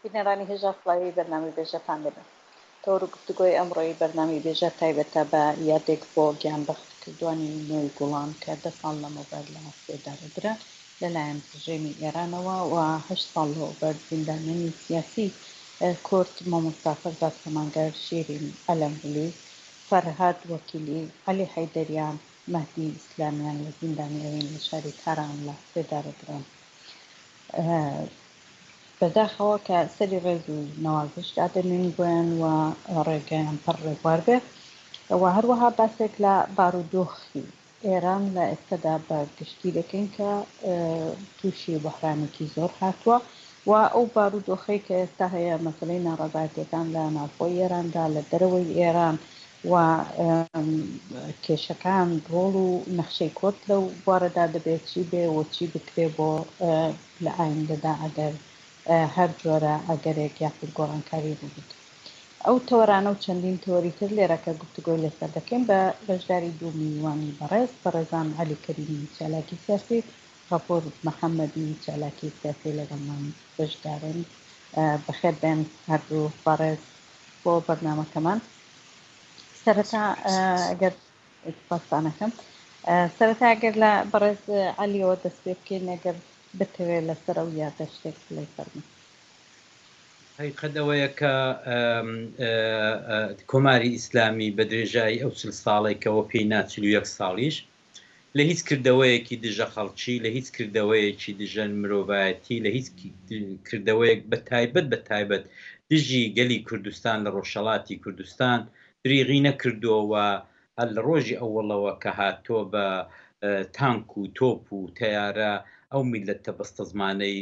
بینەرانی هێژا سڵاوی بەرنامەی بێژەتان دەبێ. تەوەر و گفتوگۆی ئەمڕۆی بەرنامەی بێژەر تایبەتە بە یادێک بۆ گیانبەختکردوانی نۆی گوڵان کە دە ساڵ لەمەوبەر لە سێدارە درا لەلایەن ڕژێمی ئێرانەوە و هەشت ساڵ لەوەوبەر زیندانیانی سیاسی کورد مامۆستا فەرزاد سەماگەر، شیرین ئەلەمبولی، فەرهاد وەکیلی، عەلی حەیدەریان، مەهدی ئیسلامیان لە زیندانی ئەوین لە شاری تاران لە سێدارە دران. بەداخەوە کە سەری ڕێز و نەوازش دادەنوێن بۆیان و ڕێگەیان پڕ ڕێبوار بێ و هەروەها باسێک لە بارودۆخی ئێران لە ئێستەدا بە گشتی دەکەین کە تووشی بەحرانێکی زۆر هاتووە و ئەو بارودۆخەی کە ئێستا هەیە مەسلەی ناڕەزایەتەکان لە ناوخۆی ئێراندا لە دەرەوەی ئێران و کێشەکان، ڕۆڵ و نەخشەی کۆت لەو بوارەدا دەبێ چی بێ و چی بکرێ بۆ لە ئایندەدا ئەگەر هەر جۆرە ئەگەرێک یاخود گۆڕانکاری ڕوو بدە. ئەو تەوەرانە و چەندین تەوەری تر لێرە کە گفتوگۆی لەسەر دەکەین بە بەشداری دوو میوانی بەڕێز، بەڕێزان عەلی کەریمی چالاکی سیاسی و غەفور محەمەدی چالاکی سیاسی لەگەڵمان بەشدارن. بەخێر بێن هەردوو بەڕێز بۆ بەرنامەکەمان. سەرەتا گەر پاسانەکەم سەرەتا گەر لە بەڕێز علیەوە دەست پێ بکەین نەگەر بتەوێت لەسەر ئەو یادە شتێک بڵێ فەرمی هەیقەدەوەیە کە کۆماری ئیسلامی بە درێژایی ئەو چل ساڵێکەوە پێی ناچلویەک ساڵیش لە هیچ کردەوەیەکی دژە خەڵکی، لە هیچ کردەوەیەکی دژە مرۆڤایەتی، لە هیچ کردەوەیەک بە تایبەت بە تایبەت دژی گەلی کوردستان لە ڕۆژهەڵاتی کوردستان دریغی نەکردووە و هەر لە ڕۆژی ئەوەڵەوە کە هاتووە بە تانک و تۆپ و تەیارە ئەو میللەتە بەستەزمانەی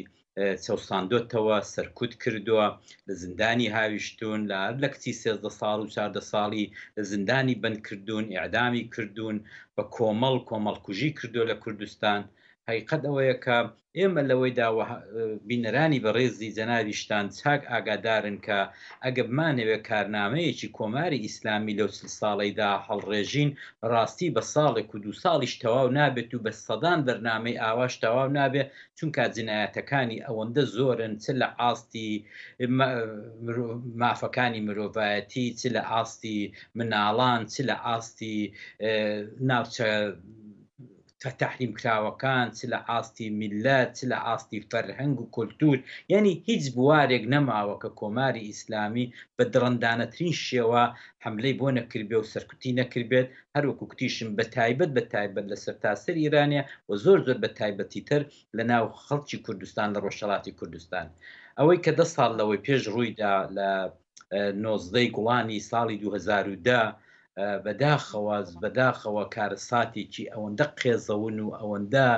چەوساندۆتەوە، سەرکوت کردووە، لە زیندانی هاویشتوون، لە هەر لە کچی سێزدە ساڵ و چاردە ساڵی لە زیندانی بەند کردوون، ئیعدامی کردوون، بە کۆمەڵ کۆمەڵکوژی کردووە لە کوردستان. هەقیقەت ئەوەیە کە ئێمە لەوەیدا و بینەرانی بەڕێزی جەنابی شتان چاک ئاگادارن کە ئەگە بمانەوێ کارنامەیەکی کۆماری ئیسلامی لەو چل ساڵەیدا هەڵڕێژین بەڕاستی بە ساڵێک و دوو ساڵیش تەواو نابێت و بە سەدان بەرنامەی ئاواش تەواو نابێ چونکا جنایەتەکانی ئەوەندە زۆرن چ لە ئاستی مافەکانی مرۆڤایەتی چ لە ئاستی مناڵان چ لە ئاستی ناوچە کە تحریم کراوەکان چ لە ئاستی میلەت چ لە ئاستی فەرهەنگ و کولتور یعنی هیچ بوارێک نەماوە کە کۆماری ئیسلامی بە دڕندانەترین شێوە حملەی بۆ نەکردبێ و سەرکوتی نەکردبێت هەر وەکو کوتیشم بە تایبەت بە تایبەت لە سەرتاسەر ئیرانێ و زۆر زۆر بە تایبەتی تر لە ناو خەڵکی کوردستان لە ڕۆژهەڵاتی کوردستان ئەوەی کە دە ساڵ لەوەی پێش ڕوویدا لە نۆزدەی گوڵانی ساڵی 2010 بەداخەوە بەداخەوە کارەساتێکی ئەوەندە قێزەون و ئەوەندە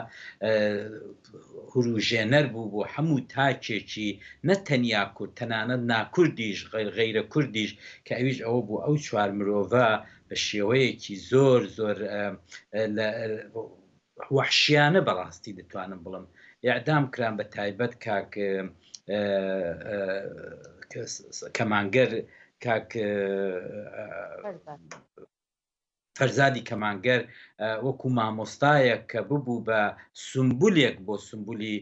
هوروژێنەر بوو بۆ هەموو تاکێکی نەتەنیا کورد تەنانەت ناکوردیش غیرە کوردیش کە ئەویش ئەوە بوو ئەو چوار مرۆڤە بە شێوەیەکی زۆر زۆر وەحشیانە بەڕاستی دەتوانم بڵم یاعدام کران بە تایبەت کاک کەمانگەر کاک فەرزادی کەمانگەر وەکو مامۆستایەک کە ببوو بە سمبولێک بۆ سمبولی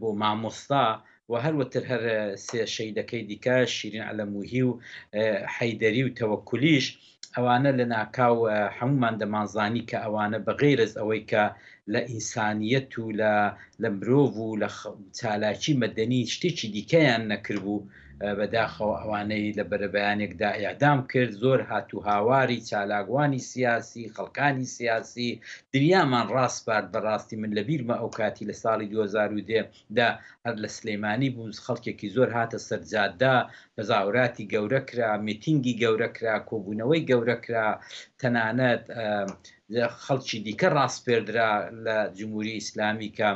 بۆ مامۆستا و هەر وتر هەر سێ شەیدەکەی دیکە شیرین عەلەمووهی و حەیدەری و تەوەکولیش ئەوانە لە ناکاو هەموومان دەمانزانی کە ئەوانە بە غەیرەز ئەوەی کە لە ئینسانیەت و لە لە مرۆڤ و لە چالاکی مەدەنی شتێکی دیکەیان نەکردبوو بەداخەوە ئەوانەی لە بەرەبەیانێکدا ئیعدام کرد زۆر هات و هاواری چالاکوانی سیاسی خەڵکانی سیاسی دنیامان ڕاسپارد بەڕاستی من لە بیرمە ئەو کاتی لە ساڵی 2010 دا هەر لە سلیمانی بوو خەڵکێکی زۆر هاتە سەر جادە تەزاوراتی گەورە کرا میتینگی گەورە کرا کۆبوونەوەی گەورە کرا تەنانەت خەڵکی دیکە ڕاسپێردرا لە جمهوری ئیسلامی کە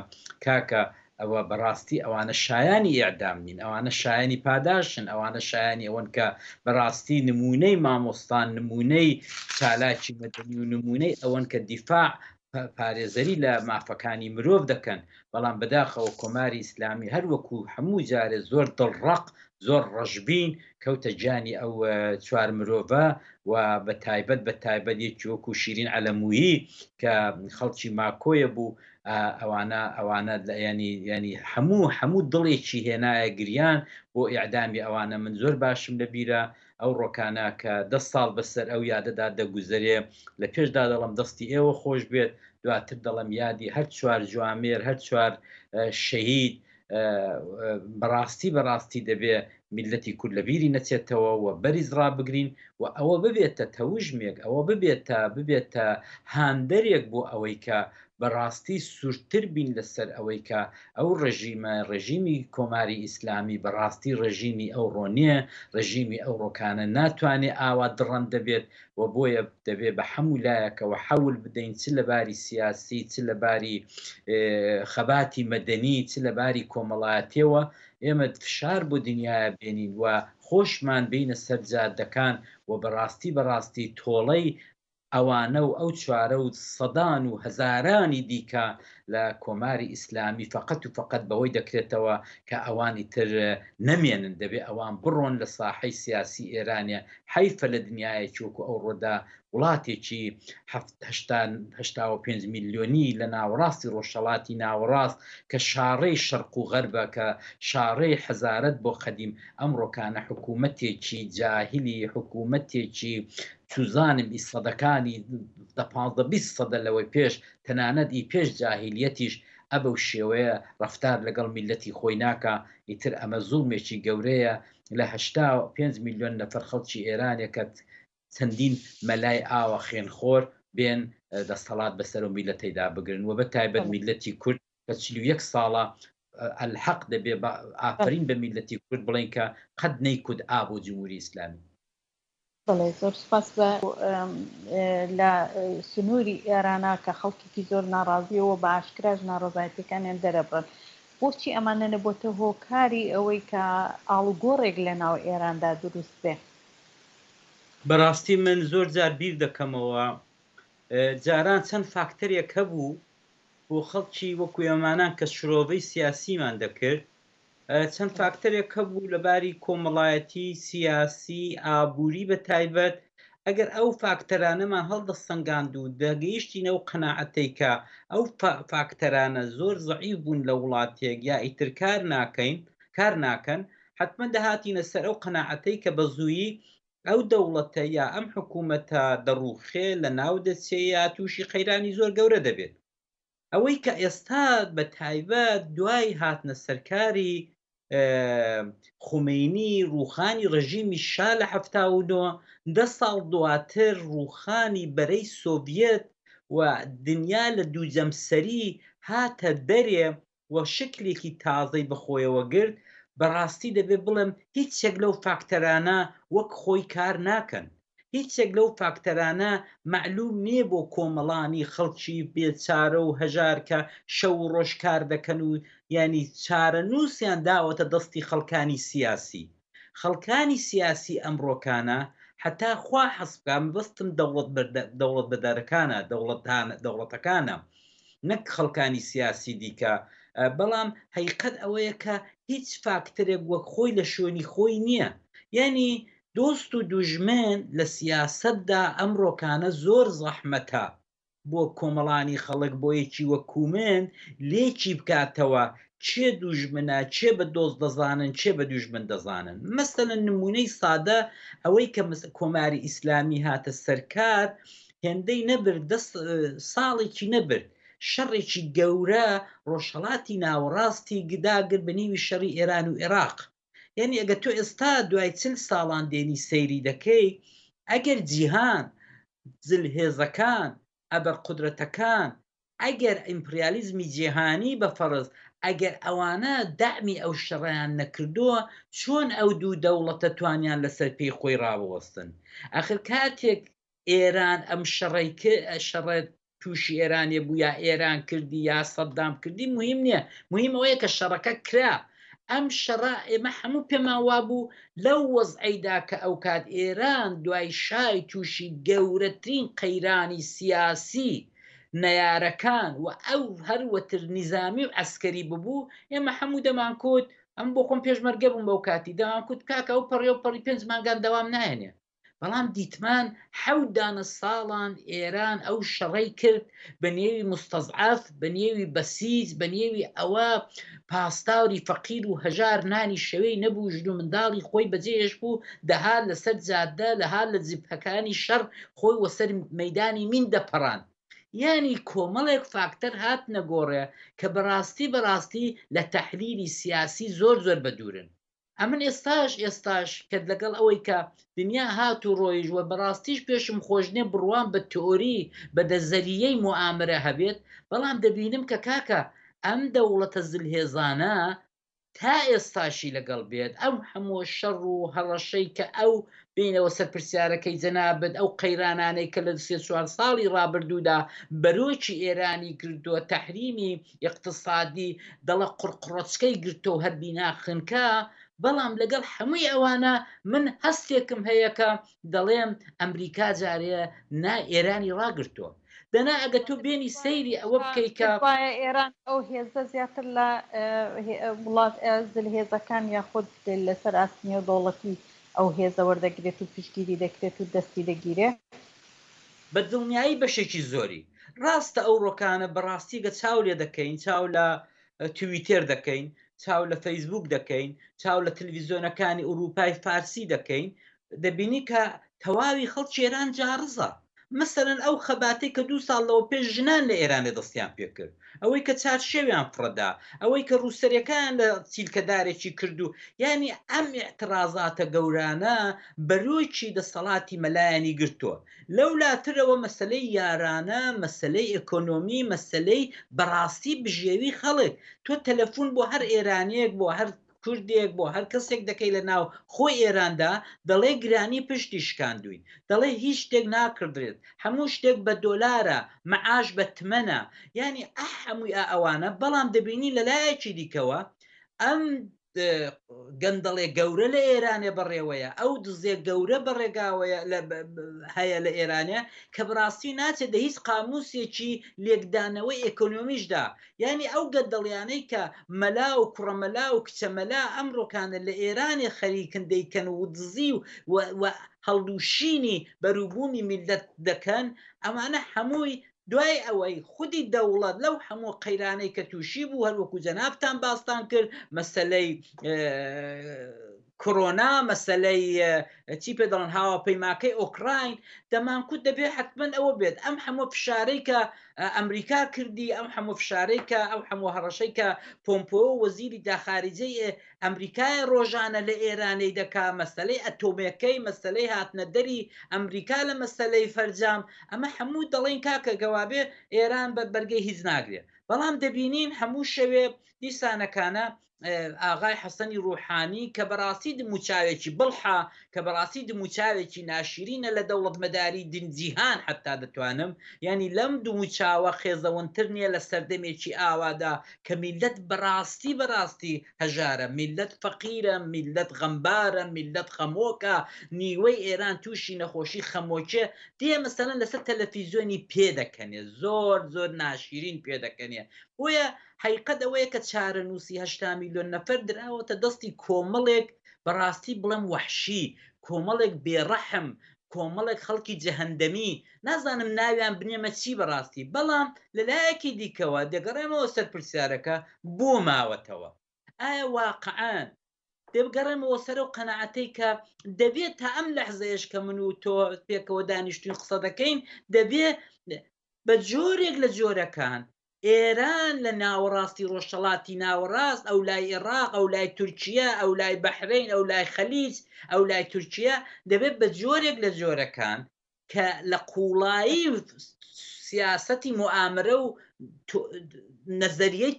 کاکە ئەوە بەڕاستی ئەوانە شایانی ئێعدام نین ئەوانە شایانی پاداشن ئەوانە شایانی ئەوەن کە بەڕاستی نمونەی مامۆستان نمونەی چالاکی مەدەنی و نمونەی ئەوەن کە دیفاع پارێزەری لە مافەکانی مرۆڤ دەکەن بەڵام بەداخەوە کۆماری ئیسلامی هەروەکو هەموو جارێ زۆر دڵڕق زۆر ڕەشبین کەوتە گیانی ئەو چوار مرۆڤە و بە تایبەت بە تایبەت یەکی وەکو شیرین ئەلەمویی کە خەڵکی ماکۆیە بوو ئەوانە ئەوانە ینی ینی هەموو هەموو دڵێکی هێنایە گریان بۆ ئیعدامی ئەوانە من زۆر باشم لە بیرە ئەو ڕۆکانە کە دە ساڵ بە سەر ئەو یادەدا دەگوزەرێ، لە پێشدا دەڵێم دەستی ئێوە خۆش بێت، دواتر دەڵێم یادی هەر چوار جوامێر، هەر چوار شەهید، بە ڕاستی بە ڕاستی دەبێ میللەتی کورد لە بیری نەچێتەوە و بەریز ڕابگرین و ئەوە ببێتە تەوژمێک، ئەوە ببێتە ببێتە هاندەرێک بۆ ئەوەی کە بە ڕاستی سوورتر بین لە سەر ئەوەی کە ئەو ڕژیمە ڕژیمی کۆماری ئیسلامی بەڕاستی ڕژیمی ئەو ڕۆنیە ڕژیمی ئەو ڕۆکانە ناتوانێت ئاوا دڕەن دەبێت و بۆیە دەبێت بە حەموو لایەکەوە حەول بدەین چ لە باری سیاسی چ لە باری خەباتی مەدەنی چ لە باری کۆمەڵایەتەوە ئێمە فشار بۆ دنیاە بێنین و خۆشمان بینە سەرجادەکان و بەڕاستی بەڕاستی تۆڵەی ئەوانە و ئەو چوارە و سەدان و هەزارانی دیکە لە کۆماری ئیسلامی فەقەت و فەقەت بەوەی دەکرێتەوە کە ئەوان ئیتر نەمێنن دەبێ ئەوان بڕۆن لە ساحەی سیاسی ئێرانێ حەیفە لە دنیایەکی وەکوو ئەوڕۆدا وڵاتێکی هەفت هەشتا هەشتا و پێنج میلیۆنی لە ناوەڕاستی ڕۆژهەڵاتی ناوەڕاست کە شاڕێی شەرق و غەربە کە شاڕێی حەزارەت بۆ قەدیم ئەمڕۆکانە حکوومەتێکی جاهلی حکوومەتێکی چوزانم ئی سەدەکانی دە پانزدە بیست سەدە لەوەی پێش تەنانەت ئی پێش جاهیلیەتیش ئەبەو شێوەیە ڕەفتار لەگەڵ میلەتی خۆی ناکا ئیتر ئەمە زوڵمێکی گەورەیە لە هەشتا پێنج میلیۆن نەفەر خەڵکی ئێرانێ کە چەندین مەلای ئاوە خێن خۆر بێن دەستەڵات بەسەرو میلەتەیدا بگرن وە بە تایبەت میلەتی کورد کە چل و یەک ساڵە الحق دەبێ بە ئافەرین بە میلەتی کورد بڵێین کە قەت نەیکوت ئا بۆ جموری ئیسلامی. بەڵێ زۆر سوپاس بە لە سنووری ئێرانا کە خەڵکیی زۆر ناڕازیەوە بە ئاشکراش ناڕزایەتەکانیان دەرەبڕن بۆچی ئەمانە نەبووتە هۆکاری ئەوەی کە ئاڵوگۆڕێک لە ناو ئێراندا دروست بێ؟ بەڕاستی من زۆر جار بیر دەکەمەوە جاران چەند فاکتەرێک هەبوو بۆ خەڵکی وەکو ئێمانان کە شرۆڤەی سیاسیمان دەکرد چەند فاکتەرێک هەبوو لە باری کۆمەڵایەتی، سیاسی، ئابووری بە تایبەت، ئەگەر ئەو فاکتەرانەمان هەڵدەسەنگاند و دەگەیشتینە ئەو قەناعەتەی کە ئەو فاکتەرانە زۆر زەعیف بوون لە وڵاتێک یا ئیتر کار ناکەین، کار ناکەن، حەتمەن دەهاتینە سەر ئەو قەناعەتەی کە بە زوویی ئەو دەوڵەتە یا ئەم حکوومەتە دەڕووخێ، لەناو دەچێ یا تووشی قەیرانی زۆر گەورە دەبێت. ئەوەی کە ئێستا بە تایبەت دوای هاتنە سەرکاری خومینی ڕوخانی ڕژیمی شا لە هەفتا و نۆ دە ساڵ دواتر ڕوخانی بەرەی سۆڤەت و دنیا لە دوو جەمسەری هاتە دەرێ و شکلێکی تازەی بە خۆیەوە گرت بەڕاستی دەبێ بڵێم هیچێک لەو فاکتەرانە وەک خۆی کار ناکەن هیچێک لەو فاکتەرانە مەعلوم نیە بۆ کۆمەڵانی خەڵکی بێ چارە و هەژار کە شەو و ڕۆژ کار دەکەن و یانی چارەنوسیان داوەتە دەستی خەڵکانی سیاسی خەڵکانی سیاسی ئەمڕۆکانە هەتا خوا حەز بکا مەبەستم دەوڵەت دەوڵەتبەدەرەکانە دەوڵەتانە دەوڵەتەکانە نەک خەڵکانی سیاسی دیکە بەڵام هەیقەت ئەوەیە کە هیچ فاکتەرێک وەک خۆی لە شوێنی خۆی نیە یانی دۆست و دوژمن لە سیاسەتدا ئەم ڕۆکانە زۆر زەحمەتە بۆ کۆمەڵانی خەڵک بۆ یەکی وەکو من لێکی بکاتەوە کێ دوژمنە کێ بە دۆست دەزانن کێ بە دوژمن دەزانن مەسەلەن نمونەی سادە ئەوەی کە کۆماری ئیسلامی هاتە سەر کار هێندەی نەبرد دە ساڵێکی نەبرد شەڕێکی گەورە ڕۆژهەڵاتی ناوەڕاستی گداگر بە نیوی شەڕی ئێران و عێراق یعنی ئەگە تۆ ئێستا دوای چل ساڵان دێنی سەیری دەکەی ئەگەر جیهان زل هێزەکان ئەبە قدرەتەکان ئەگەر ئیمپریالیزمی جیهانی بە فەرز ئەگەر ئەوانە دامی ئەو شەڕیان نەکردووە چۆن ئەو دوو دەوڵەتە توانیان لەسەر پێی خۆی ڕاوەستن ئەخر کاتێک ئێران ئەم شەڕەی ک شەڕە تووشی ئێرانێ بوو یا ئێران کردی یا سەددام کردی مهم نییە مهم ئەوەیە کە شەڕەکە کرا ئەم شەڕە ئێمە هەموو پێمان وابوو لەو وەزعەیدا کە ئەو کات ئێران دوای شای تووشی گەورەترین قەیرانی سیاسی نەیارەکان و ئەو هەر وەتر نیزامی و عەسکەری ببوو ئێمە هەموو دەمانکوت ئەم بۆ خۆم پێشمەرگە بووم بەو کاتی دەمانکوت کاکە ئەو پەڕی و پەڕی پێنج مانگان دەوام نایەنێ بەڵام دیتمان حەوت دانە ساڵان ئێران ئەو شەڕەی کرد بە نێوی مستەزعەف بە نێوی بەسیج بە نێوی ئەوە پاسداوری فەقیر و هەژار نانی شەوەی نەبوو ژن و منداڵی خۆی بەجێهێش بوو دەهات لەسەر جادە لەهات لە جبهەکانی شەڕ خۆی وەسەر مەدانی مین دەپەڕان یانی کۆمەڵێک فاکتەر هات نەگۆڕێ کە بەڕاستی بەڕاستی لە تەحلیلی سیاسی زۆر زۆر بەدوورن ئەمن ئێستاش ئێستاش کەت لەگەڵ ئەوەی کە دنیا هات و ڕۆیژ وە بەڕاستیش پێشم خۆشنێ بڕوام بە تئۆری بە دەزەریەی موامرە هەبێت بەڵام دەبینم کە کاکە ئەم دەوڵەتە زلهێزانە تا ئێستاشی لەگەڵ بێت ئەو هەموو شەڕ و هەڕەشەی کە ئەو بینەوە سەر پرسیارەکەی جەنابت ئەو قەیرانانەی کە لە سێ چوار ساڵی ڕابردوودا بەرۆکی ئێرانی کردووە تەحریمی ئیقتسادی دەڵە قڕقڕۆچکەی گرتوەو هەر بینا خنکا، بەڵام لەگەڵ هەمووی ئەوانە من هەستێکم هەیە کە دەڵێم ئەمریکا جارێ نا ئێرانی ڕاگرتوە. دەنا ئەگە تۆ بێنی سەیری ئەوە بکەی کە. تخوایە ئێران ئەو هێزە زیاتر لە وڵات زلهێزەکان یاخود لەسەر ئاست نێودەوڵەتی ئەو هێزە وەردەگرێت و پشتگیری دەکرێت و دەستی دەگیرێ بە دڵنیایی بەشێکی زۆری. ڕاستە ئەوڕۆکانە بەڕاستیگە چاو لێ دەکەین چاو لە تویتێر دەکەین چاو لە فەیسبووک دەکەین چاو لە تلویزۆنەکانی ئورووپای فارسی دەکەین دەبینی کە تەواوی خەڵکی ئێران جاڕزە مەسەلەن ئەو خەباتەی کە دوو ساڵ لەوە پێش ژنان لە ئێرانێ دەستیان پێ کرد ئەوەی کە چارشێویان فڕەدا، ئەوەی کە ڕووسەرەکەیان لە چیلکەدارێکی کرد و یانی ئەم ئیعتڕازاتە گەورانە بەرۆکی دەسەڵاتی مەلایانی گرتووە. لەو لاترەوە مەسەلەی یارانە، مەسەلەی ئێکۆنۆمی، مەسەلەی بەڕاستی بژێوی خەڵک. تۆ تەلەفوون بۆ هەر ئێرانییەک، بۆ هەر کوردێک بۆ هەر کەسێک دەکەی لە ناو خۆی ئێراندا دەڵێ گرانی پشتی شکاندووین دەڵێ هیچ شتێک ناکڕدرێت هەموو شتێک بە دۆلارە مەعاش بە تمەنە یانی ئە هەمووی ئە ئەوانە بەڵام دەبینی لە لایەکی دیکەوە ئەم گەندەڵێ گەورە لە ئێرانێ بەڕێوەیە ئەو دزێ گەورە بەڕێگاوەیە هەیە لە ئێرانێ کە بڕاستی ناچێت دە هیچ قاموسێکی لێکدانەوەی ئەکۆنۆمیشدا یانی ئەو گەندەڵیانەی کە مەلا و کوڕە مەلا و کچە مەلا ئەمڕۆکانە لە ئێرانێ خەریکن دەیکەن و دزی و و هەڵدوشینی بەروبومی میللەت دەکەن ئەمانە هەمووی دوای ئەوەی خودی دەوڵەت لەو هەموو قەیرانەی کە تووشی بوو هەروەکو جەنابتان باستان کرد مەسەلەی کڕۆنا مەسەلەی چی پێ دەڵن هاواپەیماکەی ئۆکراین دەمانکوت دەبێ حتممەن ئەوە بێت ئەم هەموو فشارەی کە ئەمریکا کردی ئەم هەموو فشارەی کە ئەو هەموو هەڕەشەی کە پۆمپۆ وەزیری داخاریجەی ئەمریکای ڕۆژانە لە ئێرانەی دەکا مەسلەی ئەتۆمەکەی مەسلەی هاتنەدەری ئەمریکا لە مەسلەی فەرجام ئەمە هەموو دەڵێن کاکە گەوابێ ئێران بە بەرگەی هیچ ناگرێت بەڵام دەبینین هەموو شەوێ دیسانەکانە ئاغای حەسەنی ڕوحانی کە بەڕاستی دموچاوێکی بڵحە کە بەڕاستی دموچاوێکی ناشیرینە لە دەوڵەت مەداری دنجیهان حتا دەتوانم ینی لەم دووچاوە خێزەونتر نییە لە سەردەمێکی ئاوادا کە میلەت بەڕاستی بەڕاستی هەژارە میلەت فەقیرە میلەت غەمبارە میلەت خەمۆکە نیوەی ئێران تووشی نەخۆشی خەمۆکێ دێ مەسەەن لەسەر تەلەفیزیۆنی پێ دەکەنێ زۆر زۆر ناشیرین پێ دەکەنێ بۆیە ئەو حەیقەت ئەوەیە کە چارەنووسی هەشتا میلیۆن نەفەر دراوەتە دەستی کۆمەڵێک بە ڕاستی بڵێم وەحشی، کۆمەڵێک بێ ڕەحم، کۆمەڵێک خەڵکی جەهەندەمی، نازانم ناویان بنێمە چی بە ڕاستی، بەڵام لە لایەکی دیکەوە دەگەڕێمەوە سەر پرسیارەکە بۆ ماوەتەوە؟ ئایا واقعەن دەبگەڕێمەوە سەر ئەو قەناعەتەی کە دەبێت تا ئەم لەحزەیەش کە من و تۆ پێکەوە دانیشتوین قسە دەکەین دەبێ بە جۆرێک لە جۆرەکان ئێران لە ناوەڕاستی ڕۆژهڵاتی ناوەڕاست ئەو لای عێراق ئەو لای تورکیا ئەو لای بەحرین ئەو لای خەلیج ئەو لای تورکیا دەبێت بە جۆرێک لە جۆرەکان کە لە قوڵایی سیاستی موامرە و نەزەریەی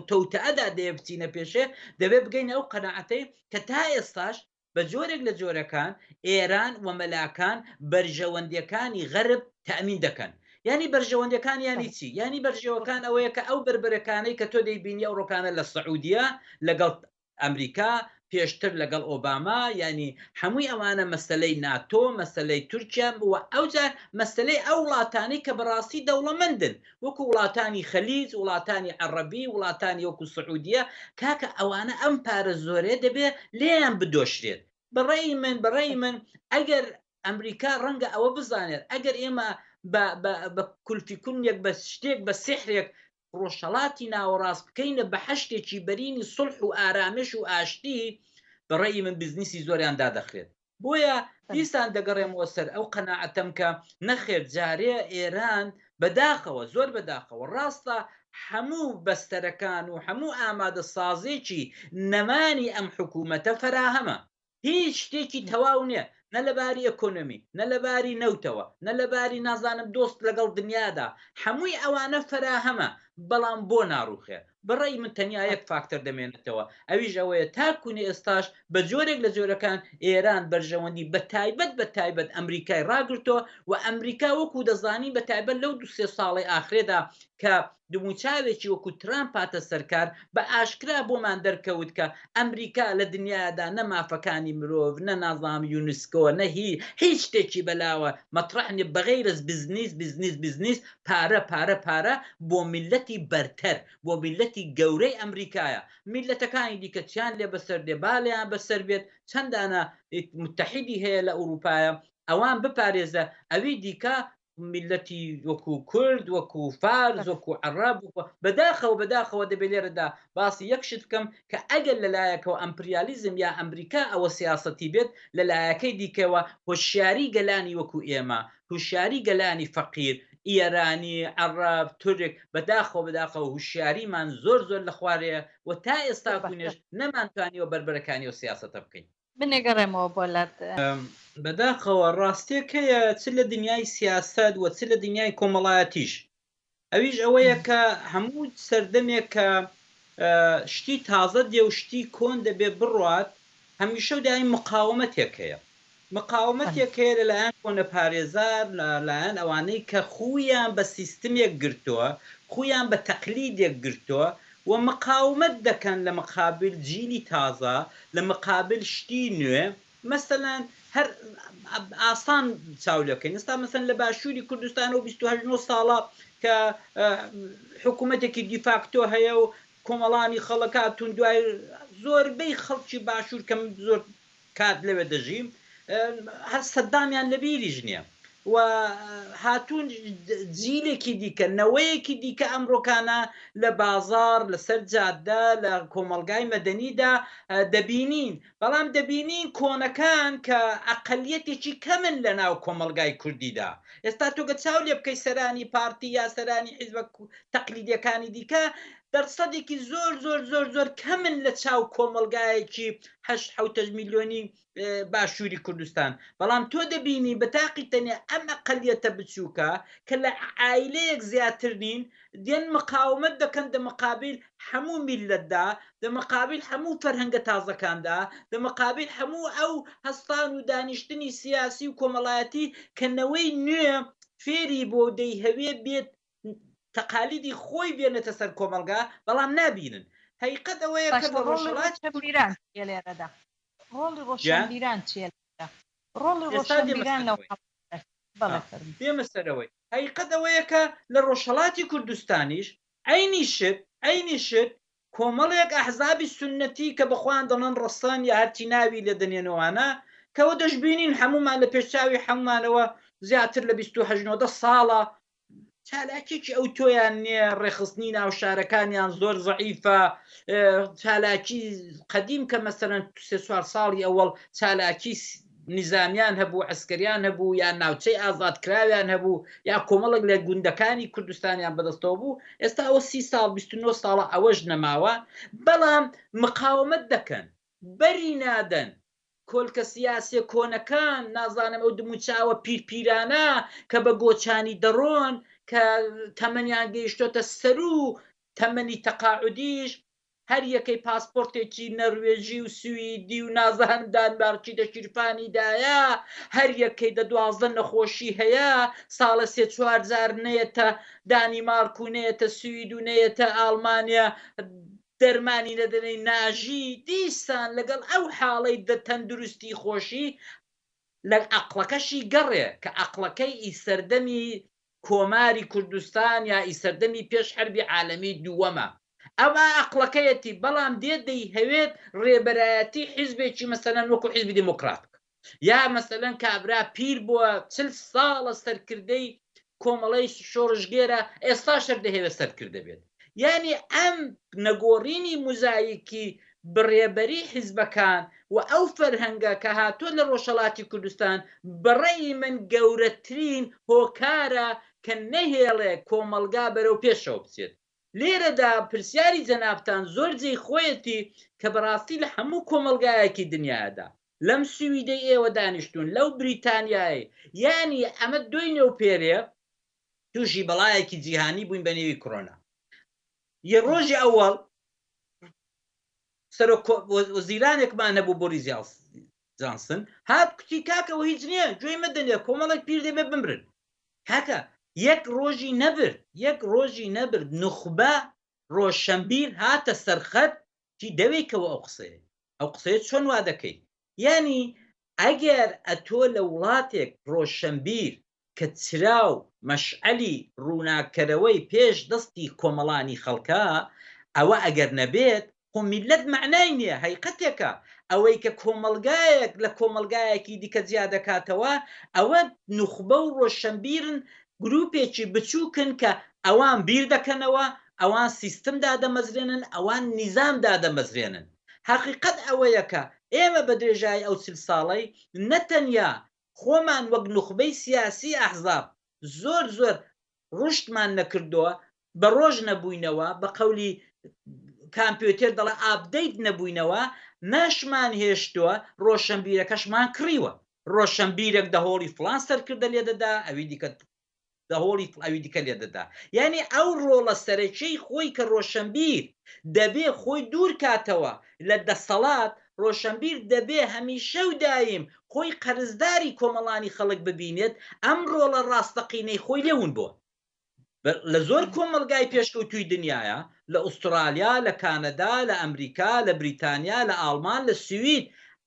تەوتەدا دەیە بچینە پێشێ دەبێت بگەینە ئەو قەنەعەتەی کە تا ئێستاش بە جۆرێک لە جۆرەکان ئێران و مەلاکان بەرژەوەندیەکانی غەرب تامین دەکەن ینی بەرژەوەندەکان ینی چی ینی بەرژەوەکان ئەوەیە کە ئەو بربەرەکانەی کە تۆ دەیبینی ئەو ڕۆکانە لە سعودیە لەگەڵ ئەمریکا پێشتر لەگەڵ ئۆباما یانی هەمووی ئەوانە مەسەلەی ناتۆ مەسەلەی تورکیا و ئەوجا مەسەلەی ئەو وڵاتانەی کە بەڕاستی دەوڵەمەندن وەکو وڵاتانی خەلیج وڵاتانی عەڕەبی وڵاتانی وەکو سعودیە کاکە ئەوانە ئەم پارە زۆرەیە دەبێ لێیان بدۆشرێت بەڕەئی من بەڕەئی من ئەگەر ئەمریکا ڕەنگە ئەوە بزانێت ئەگەر ئێمە بە بە کولفی کونیەک بە شتێک بە سیحرێک ڕۆژهەڵاتی ناوەڕاست بکەینە بەحەشدێکی بەرینی سوڵح و ئارامش و ئاشتی بەڕەئی من بزنسی زۆریان دادەخرێت بۆیە دیسان دەگەڕێمەوە سەر ئەو قەناعەتەم کە نەخێر جارێ ئێران بەداخەوە زۆر بەداخەوە ڕاستە حەموو بەستەرەکان و حەموو ئامادە سازێکی نەمانی ئەم حکوومەتە فەراهەمە هیچ شتێکی تەواو نییە نە لە باری ئەکۆنۆمی نە لە باری نەوتەوە نە لە باری نازانم دۆست لەگەڵ دنیادا هەمووی ئەوانە فەراهەمە بەڵام بۆ ناڕوخێ بەڕێی من تەنیا یەک فاکتەر دەمێنێتەوە ئەویش ئەوەیە تاکوونی ئێستاش بە جۆرێک لە جۆرەکان ئێران بەرژەوەندی بە تایبەت بە تایبەت ئەمریکای ڕاگرتۆ و ئەمریکا وەکو دەزانی بە تایبەت لەو دو سێ ساڵی ئاخرێدا کە دموچاوێکی وەکو ترامپ هاتە سەرکار، بە ئاشکرا بۆمان دەرکەوت کە ئەمریکا لە دنیایەدا نە مافەکانی مرۆڤ، نە نازام یونسکۆ، نە هی، هیچ شتێکی بەلاوە مەتڕەح نیە بەغەیرەز بزنیس، بزنیس، بزنیس، پارە، پارە، پارە، بۆ میللەتی بەرتەر، بۆ میللەتی گەورەی ئەمریکایە. میللەتەکانی دیکە چیان لێ بەسەر دێ با لێیان بەسەر بێت، چەند دانە متحیدی هەیە لە ئوروپایە ئەوان بپارێزە، ئەوی دیکە میللەتی وەکو کورد وەکو فارس وەکو عرب بەداخەوە بەداخەوە دەبێ لێرەدا باسی یەک شت بکەم کە ئەگەر لەلایەکەوە ئەمپریالیزم یا ئەمریکا ئەوە سیاسەتی بێت لەلایەکەی دیکەوە هۆشیاری گەلانی وەکو ئێمە هوشیاری گەلانی فەقیر ئیەرانی عرب تورک بەداخەوە بەداخەوە هوشیاریمان زۆر زۆر لە خوارەیە و تا ئێستاکونێش نەمانتوانیوە بەربەرەکانی و سیاسەتە بکەین من ئەگەڕێمەوە بۆ لات. بەداخەوە ڕاستێک هەیە چ لە دنیای سیاسەت و چ لە دنیای کۆمەڵایەتیش ئەویش ئەوەیە کە هەموو سەردەمێک کە شتی تازە دێ و شتی کۆن دەبێ بڕوات هەمیشە و دایم مقاومەتێک هەیە مقاومەتێک هەیە لەلایەن کۆنەپارێزار لەلایەن ئەوانەی کە خوویان بە سیستمێک گرتووە خوویان بە تەقلیدێک گرتووە و مقاومەت دەکەن لە مقابل جیلی تازە لە مقابل شتی نوێ مەسەلەن هەر ئاسان چاو لێ بکەین ئێستا مەسەلەن لە باشووری کوردستانەوە بیست و هەشت نۆ ساڵە کە حکوومەتێکی دیفاکتۆ هەیە و کۆمەڵانی خەڵک هاتوون دوای زۆربەی خەڵکی باشوور کە من زۆر کات لەوێ دەژیم هەر سەدامیان لەبیریش نیە و هاتوون جیلێکی دیکە نەوەیەکی دیکە ئەمرۆکانە لە بازاڕ لەسەر جادە لە کۆمەڵگای مەدەنیدا دەبینین بەڵام دەبینین کۆنەکان کە ئەقلیەتێکی کەمن لە ناو کۆمەڵگای کوردیدا ئێستا تۆگە چاو لێ بکەی سەرانی پارتی یا سەرانی حیزبە تەقلیدیەکانی دیکە دەرسەدێکی زۆر زۆر زۆر زۆر کەمن لە چاو کۆمەڵگایەکی هەشت حوتەش میلیۆنی باشووری کوردستان بەڵام تۆ دەبینی بە تاقی تەنێ ئەم ئەقلیەتە بچووکە کە لە عیلەیەک زیاتر نین دێن مقاومت دەکەن دە مقابل هەموو میلەتدا دە مقابل هەموو فەرهەنگە تازەکاندا دە مقابل هەموو ئەو هەستان و دانیشتنی سیاسی و کۆمەڵایەتی کە نەوەی نوێ فێری بۆ دەیهەوێ بێت تەقالیدی خۆی بێنێتە سەر کۆمەڵگا بەڵام نابینن هەیقەت ئەوەیە کە لە ڕۆژهەڵاتی کوردستان ڕۆڵی ڕۆشنبیران چیە لێرەدا ڕۆڵی ڕۆشنبیران لەو حاڵەتەدا بەڵێ فەرموو. دێمە سەرەوەی هەیقەت ئەوەیە کە لە ڕۆژهەڵاتی کوردستانیش عەینی شت عەینی شت کۆمەڵێک ئەحزابی سوننەتی کە بە خۆیان دەڵێن ڕەسەن یا هەرچی ناوی لێ دەنێن ئەوانە کە ئەوە دەشبینین هەموومان لە پێش چاوی هەموومانەوە زیاتر لە بیست و هەشت نۆدە ساڵە چالاکیەکی ئەو تۆیان نیە ڕێخستنی ناوشارەکانیان زۆر زعیفە چالاکی قەدیم کە مەسەرەن سوار ساڵی ئەوەڵ چالاکی نظامیان هەبوو ئەسکەریان هەبوو یان ناوچەی ئازادکراویان هەبوو یا کۆمەڵک لە گوندەکانی کوردستانیان بەدەستەوە بوو ئێستا ئەوە سی ساڵ 29 ساڵە ئەوەش نەماوە بەڵام مقاومت دەکەن بەری نادەن کۆلکە سیاسیە کۆنەکان نازانم ئەو دموچاوە پیر پیرانە کە بە گۆچانی دەڕۆن کە تەمەنیان گەیشتۆتە سەرو تەمەنی تەقاعودیش هەر یەکەی پاسپۆرتێکی نەروێژی و سویدی و نازهنم دانمارکی دە شیرپانی دایە هەر یەکەی دە دوازدە نەخۆشی هەیە ساڵە سێ چوار جار نەیەتە دانیمارک و نەیەتە سوید و نەیەتە ئاڵمانیا دەرمانی دەدەنەی ناژی دیسان لەگەڵ ئەو حاڵەی دە تەندروستی خۆشی لە ئەقڵەکەشی گەڕێ کە ئەقڵەکەی ئی سەردەمی کۆماری کوردستان یا ئی سەردەمی پێش حەربی عالەمی دووەمە ئەوە ئەقڵەکەیەتی بەڵام دێت دەیهەوێت رێبەرایەتی حیزبێکی مەسەلەن وەکو حیزبی دێمۆکڕات بکات. یا مەسەلەن کابرا پیر بووە چل ساڵە سەرکردەی کۆمەڵەی شۆڕشگێرە ئێستا شەر دەهێوێت سەرکردە بێت یعنی ئەم نەگۆڕینی مزایکی بڕێبەری حیزبەکان و ئەو فەرهەنگە کە هاتووە لە ڕۆژهەڵاتی کوردستان بەڕێی من گەورەترین هۆکارە کە نەهێڵێ کۆمەلگا بەرەو پێشەوە بچێت لێرەدا پرسیاری جەنابتان زۆر جێی خۆیەتی کە بەڕاستی لە هەموو کۆمەلگایەکی دنیادا لەم سویدەی ئێوە دانیشتوون لەو بریتانیایەی یانی ئەمە دوی نێو پێرێ توشی بەڵایەکی جیهانی بووین بە نێوی کرۆنا یە ڕۆژی ئەوەڵ سەرۆک وەزیرانێکمان هەبوو بۆ ریزیاڵ جانسن هات کوتی کاکەەوە هیچ نییە گوێی مەدەنێ کۆمەڵێک پیر دەبێ بمرن کاکە یەک ڕۆژی نەبرد یەک ڕۆژی نەبرد نخبە ڕۆشنبیر هاتە سەرخەت چی دەوێیکەوە ئەو قسەیە ئەو قسەیە چۆن وا دەکەی یانی ئەگەر ئەتۆ لە وڵاتێک ڕۆشەنبیر کە چراو مەشعەلی ڕووناککەرەوەی پێش دەستی کۆمەڵانی خەڵکە ئەوە ئەگەر نەبێت خۆ میلەت مەعنای نییە هەیقەتێکە ئەوەی کە کۆمەڵگایەک لە کۆمەڵگایەکی دیکە جیا دەکاتەوە ئەوە نوخبە و ڕۆشەنبیرن گروپێکی بچوکن کە ئەوان بیر دەکەنەوە، ئەوان سیستم دادەمەزرێنن، ئەوان نیزام دادەمەزرێنن. هەقیقەت ئەوەیە کە ئێمە بە درێژایی ئەو چل ساڵەی نە تەنیا خۆمان وەک نوخبەی سیاسی ئەحزاب زۆر زۆر ڕوشدمان نەکردووە، بە ڕۆژ نەبووینەوە بە قەولی کامپیۆتێر دەڵێ ئاپدەیت نەبووینەوە مەشمان هێشتووە ڕۆشەنبیرەکەشمان کڕیوە ڕۆشەنبیرەک دەهۆڵی فڵان سەرکردە لێ دەدا ئەوی دیکە دەهۆڵی ئەوی دیکە لێ دەدا یعنی ئەو ڕۆڵە سەرەکیی خۆی کە ڕۆشەنبیر دەبێ خۆی دوور کاتەوە لە دەسەڵات ڕۆشەنبیر دەبێ هەمیشە و دایم خۆی قەرزداری کۆمەڵانی خەڵک ببینێت ئەم ڕۆڵە ڕاستەقینەی خۆی لێ ون بووە لە زۆر کۆمەڵگای پێشکەوتووی دنیایە، لە ئوسترالیا، لە کانەدا، لە ئەمریکا، لە بریتانیا، لە ئاڵمان، لە سوید،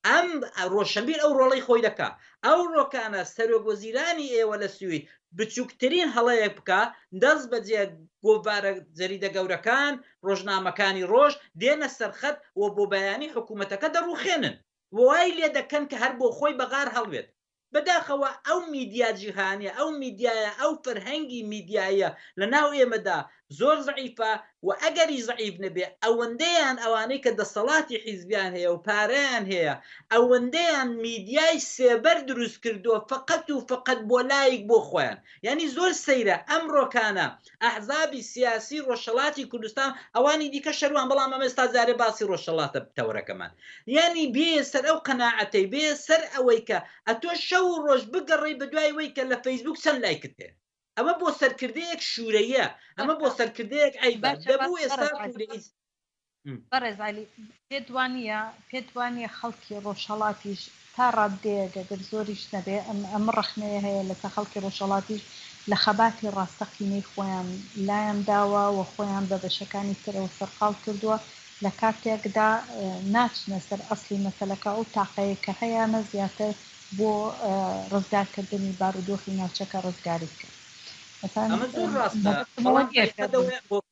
ئەم ڕۆشنبیر ئەو ڕۆڵەی خۆی دەکا. ئەو ڕۆکانە سەرۆک وەزیرانی ئێوە لە سوید بچووکترین هەڵەیەک بکا، دەست بەجێ گۆڤارە جەریدە گەورەکان، ڕۆژنامەکانی ڕۆژ، دێنە سەرخەت و بۆ بەیانی حکوومەتەکە دەڕووخێنن و وای لێ دەکەن کە هەر بۆ خۆی بە غار هەڵوێت. بەداخەوە ئەو میدیا جیهانیە ئەو میدیایە ئەو فەرهەنگی میدیایە لەناو ئێمەدا زۆر زەعیفە و ئەگەری زەعیف نەبێ ئەوەندەیان ئەوانەی کە دەسەڵاتی حیزبیان هەیە و پارەیان هەیە ئەوەندەیان میدیای سێبەر دروست کردوە فەقەت و فەقەت بۆ لایک بۆ خۆیان یانی زۆر سەیرە ئەمڕۆکانە ئەحزابی سیاسی ڕۆژهەڵاتی کوردستان ئەوانی دیکە شەروان بەڵام ئەمە ئێستا جارێ باسی ڕۆژهەڵاتە تەوەرەکەمان یانی بێیە سەر ئەو قەناعەتەی بێیە سەر ئەوەی کە ئەتۆ شەو و ڕۆژ بگەڕێی بە دوای وەی کە لە فەیسبووک چەند لایکت هەیە ئەمە بۆ سەرکردەیەک شوورەیە ئەمە بۆ سەرکردەیەک عەیبە دەبوو ئێستا بەڕێز عەلی، پێت وانییە پێت وانییە خەڵکی ڕۆژهەڵاتیش تا ڕاددەیەک ئەگەر زۆریش نەبێ ئەم ئەم ڕەخنەیە هەیە لەسەر خەڵکی ڕۆژهەڵاتیش لە خەباتی ڕاستەقینەی خۆیان لایان داوە و خۆیان بە بەشەکانی ترەوە سەرقاڵ کردووە لە کاتێکدا ناچنە سەر ئەسڵی مەسەلەکە ئەو تاقەیەی کە هەیانە زیاتر بۆ ڕزگار کردنی بارودۆخی ناوچەکە ڕزگاری بکەن. ئەمە زۆر ڕاستە بەڵام ئەی قەدەوەیان بۆ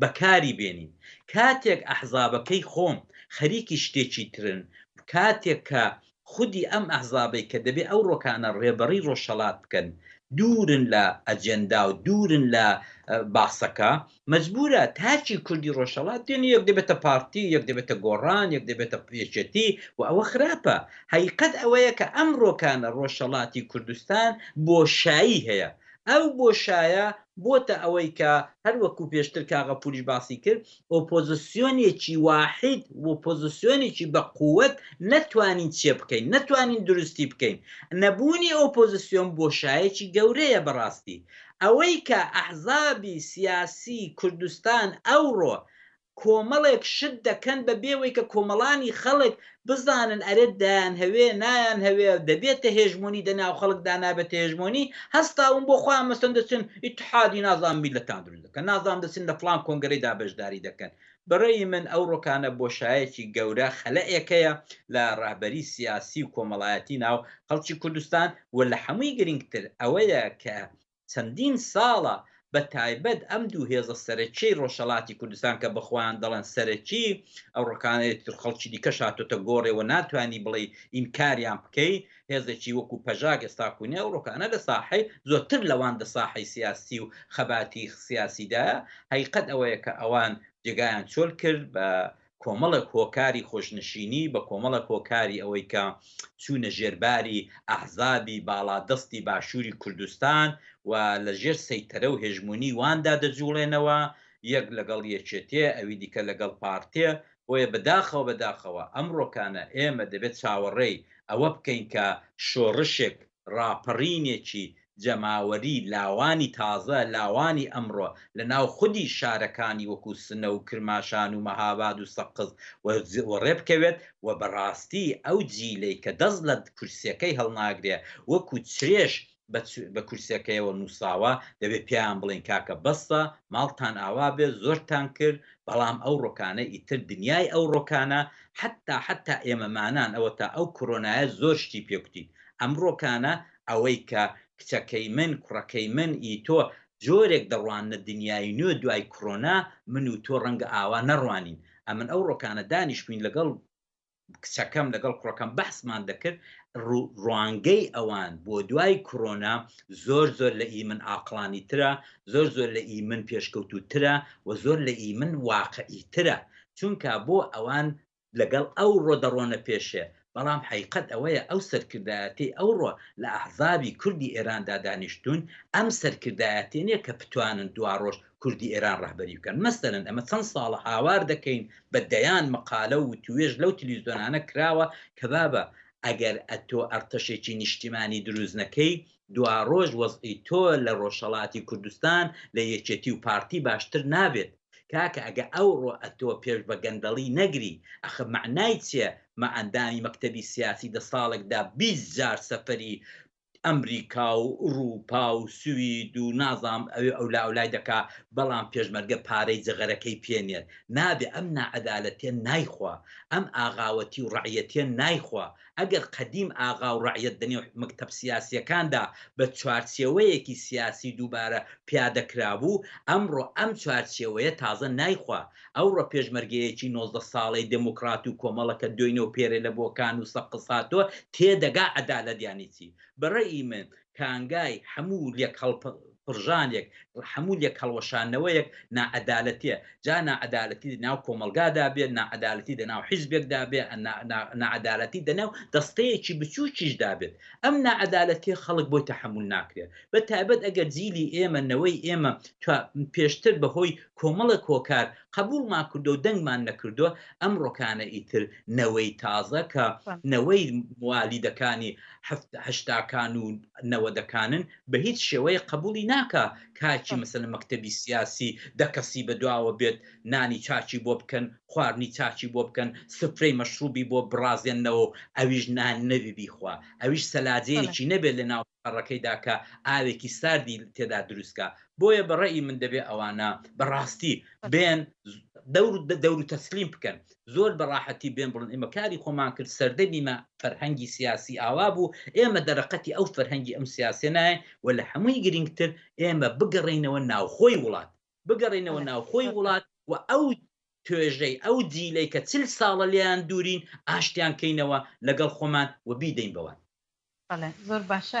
بەکاری بێنین کاتێک ئەحزابەکەی خۆم خەریکی شتێکی ترن کاتێک کە خودی ئەم ئەحزابەی کە دەبێ ئەو ڕۆکانە ڕێبەڕی ڕۆژهەڵات بکەن دوورن لە ئەجێندا و دوورن لە باسەکە مەجبوورە تاکی کوردی ڕۆژهەڵات دێن یەک دەبێتە پارتی یەک دەبێتە گۆڕان یەک دەبێتە یەکێتی و ئەوە خراپە هەیقەت ئەوەیە کە ئەم ڕۆکانە ڕۆژهەڵاتی کوردستان بۆشایی هەیە ئەو بۆشایە بۆتە ئەوەی کە هەر وەکو پێشتر کا غەفوریش باسی کرد ئۆپۆزسیۆنێکی واحید وپۆزسیۆنێکی بە قوت نەتوانین چێ بکەین نەتوانین دروستی بکەین نەبوونی ئۆپۆزسیۆن بۆشایەکی گەورەیە بەڕاستی ئەوەی کە ئەحزابی سیاسی کوردستان ئەوڕۆ کۆمەڵێک شت دەکەن بە بێوەی کە کۆمەڵانی خەڵک بزانن ئەرێ دەیانهەوێ نایان هەوێ دەبێتە هێژمۆنی دە ناو خەڵک دا نابێتە هێژمۆنی هەستاون بۆ خۆیان مەسەن دەچن ئیتحادی نازانم میللەتان دروست دەکەن نازانم دەچن لە فڵان کۆنگرەی دا بەشداری دەکەن بە رەئی من ئەو رۆکانە بۆشایەکی گەورە خەلئێکەیە لە رەهبەری سیاسی و کۆمەڵایەتی ناو خەڵکی کوردستان و لە حەمووی گرینگتر ئەوەیە کە چەندین ساڵە بە تایبەت ئەم دوو هێزە سەرەکیەی ڕۆژهەڵاتی کوردستان کە بەخۆیان دەڵێن سەرەکی ئەو ڕکانەی تر خەڵکی دیکەش هاتۆتە گۆڕێ و ناتوانی بڵێی ئینکاریان بکەی هێزێکی وەکو پەژاک ئێستا کونێ و ڕۆکانە لە ساحەی زۆرتر لەوان دە ساحەی سیاسی و خەباتی سیاسیدا هەیقەت ئەوەیە کە ئەوان جێگایان چۆل کرد بە کۆمەڵێک هۆکاری خۆشنشینی بە کۆمەڵێک هۆکاری ئەوەی کە چوونە ژێر باری ئەحزابی باڵا دەستی باشووری کوردستان و لە ژێر سەیتەرە و هێژموونی واندا دەجووڵێنەوە یەک لەگەڵ یەکێتێ ئەوی دیکە لەگەڵ پارتێ بۆیە بە داخەوە بە داخەوە ئەمڕۆکانە ئێمە دەبێت چاوەڕێی ئەوە بکەین کە شۆڕشێک ڕاپەڕینێکی جەماوەری لاوانی تازە، لاوانی ئەمڕۆ لە ناو خودی شارەکانی وەکوو سنە و کرماشان و مەهاباد و سەقز وەڕێ بکەوێت و بە ڕاستی ئەو جیلەی کە دەست لە کورسیەکەی هەڵناگرێ وەکوو چرێش بە کورسیەکەیەوە نووساوە دەبێ پێیان بڵێین کاکە بەسە ماڵتان ئاوا بێ زۆرتان کرد بەڵام ئەو ڕۆکانە ئیتر دنیای ئەو ڕۆکانە حەتتا حەتتا ئێمەمانان ئەوەتا ئەو کۆرۆنایە زۆر شتی پێ کوتین ئەمڕۆکانە ئەوەی کە کچەکەی من، کوڕەکەی من، ی تۆ جۆرێک دەڕواننە دنیای نوێ دوای کڕۆنا، من و تۆ ڕەنگە ئاوا نەڕوانین. ئەمن ئەوڕۆکانە دانیشتبووین لەگەڵ کچەکەم لەگەڵ کوڕەکەم بەحسمان دەکرد ڕوو ڕوانگەی ئەوان بۆ دوای کڕۆنا زۆر زۆر لە ئی من ئاقڵانی ترە، زۆر زۆر لە ئی من پێشکەوتوو ترە و زۆر لە ئی من واقعی ترە چونکا بۆ ئەوان لەگەڵ ئەو ڕۆ دەڕۆنە پێشێ، بەڵام حەیقەت ئەوەیە ئەو سەرکردایەتیەی ئەو ڕۆ لە ئەحزابی کوردی ئێراندا دانیشتوون، ئەم سەرکردایەتیە نیە کە بتوانن دواڕۆژ کوردی ئێران ڕەهبەری بکەن. مەسەلەن ئەمە چەند ساڵە هاوار دەکەین، بە دەیان مەقالە و وتووێژ لەو تلویزیۆنانە کراوە کە بابە ئەگەر ئەتۆ ئەڕتەشێکی نیشتیمانی دروست نەکەی، دواڕۆژ وەزعی تۆ لە ڕۆژهەڵاتی کوردستان لە یەکێتی و پارتی باشتر نابێت. کاکە ئەگە ئەوڕۆ ئەتۆ پێش بە گەندەڵی نەگری ئەخە مەعنای چیە مە ئەندامی مەکتەبی سیاسی دە ساڵێکدا بیست جار سەفەری ئەمریکا و ئوڕووپا و سوید و نازام ئەوێ ئەولا ئەولای دەکا بەڵام پێشمەرگە پارەی جغەرەکەی پێ نێت نابێ ئەم ناعەدالەتیە نایخوا ئەم ئاغاوەتی و ڕەعیەتیە نایخوا ئەگەر قەدیم ئاغا و ڕەعیەت لە نێو مەکتەب سیاسییەکاندا بە چوارچێوەیەکی سیاسی دووبارە پیادە کرابوو، ئەمڕۆ ئەم چوارچێوەیە تازە نایخوا. ئەوڕۆ پێشمەرگەیەکی نۆزدە ساڵەی دێمۆکڕات و کۆمەڵە کە دۆینە و پێرێ لە بۆکان و سەقز هاتووە، تێدەگا عەدالەت یانی چی. بە ڕەئی من کانگای هەموو لێکهەڵپڕژانێک، هەموو لێکهەڵوەشانەوەیەک ناعەدالەتیە، جا ناعەدالەتی لە ناو کۆمەڵگادا بێت، ناعەدالەتی لە ناو حیزبێکدا بێت، ناعەدالەتی لە ناو دەستەیەکی بچووکیشدا بێت. ئەم ناعەدالەتیە خەڵک بۆی تەحەمول ناکرێت. بە تایبەت ئەگەر جیلی ئێمە، نەوەی ئێمە پێشتر بە هۆی کۆمەڵێک هۆکار، قبوڵمان کردوە و دەنگمان نەکردوە ئەمڕۆکانە ئیتر نەوەی تازە کە نەوەی موالیدەکانی هەشتاکان و نەوەدەکانن بە هیچ شێوەیە قبوڵی ناکا کاکی مەسەلە مەکتەبی سیاسی دە کەسی بە دواوە بێت نانی چاچی بۆ بکەن خواردنی چاچی بۆ بکەن سفرەی مەشروبی بۆ بڕازێنەوە ئەویش نان نەوی بیخوا ئەویش سەلاجەیەکی نەبێت لە ناو پەڕەکەی دا کە ئاوێکی ساردی تێدا دروست کا بۆیە بە ڕەئی من دەبێ ئەوانە بە ڕاستی بێن دەور دەور تەسلیم بکەن زۆر بە ڕاحەتی بێن بڵن ئێمە کاری خۆمان کرد سەردەمی مە فەرهەنگی سیاسی ئاوا بوو ئێمە دەرەقەتی ئەو فەرهەنگی ئەم سیاسێ نایەن و لە هەمووی گرنگتر ئێمە بگەڕێینەوە ناوخۆی وڵات بگەڕێینەوە ناوخۆی وڵات و ئەو توێژەی ئەو جیلەی کە چل ساڵە لێیان دوورین ئاشتیان کەینەوە لەگەڵ خۆمان و بیدەین بەوان. بەڵێ زۆر باشە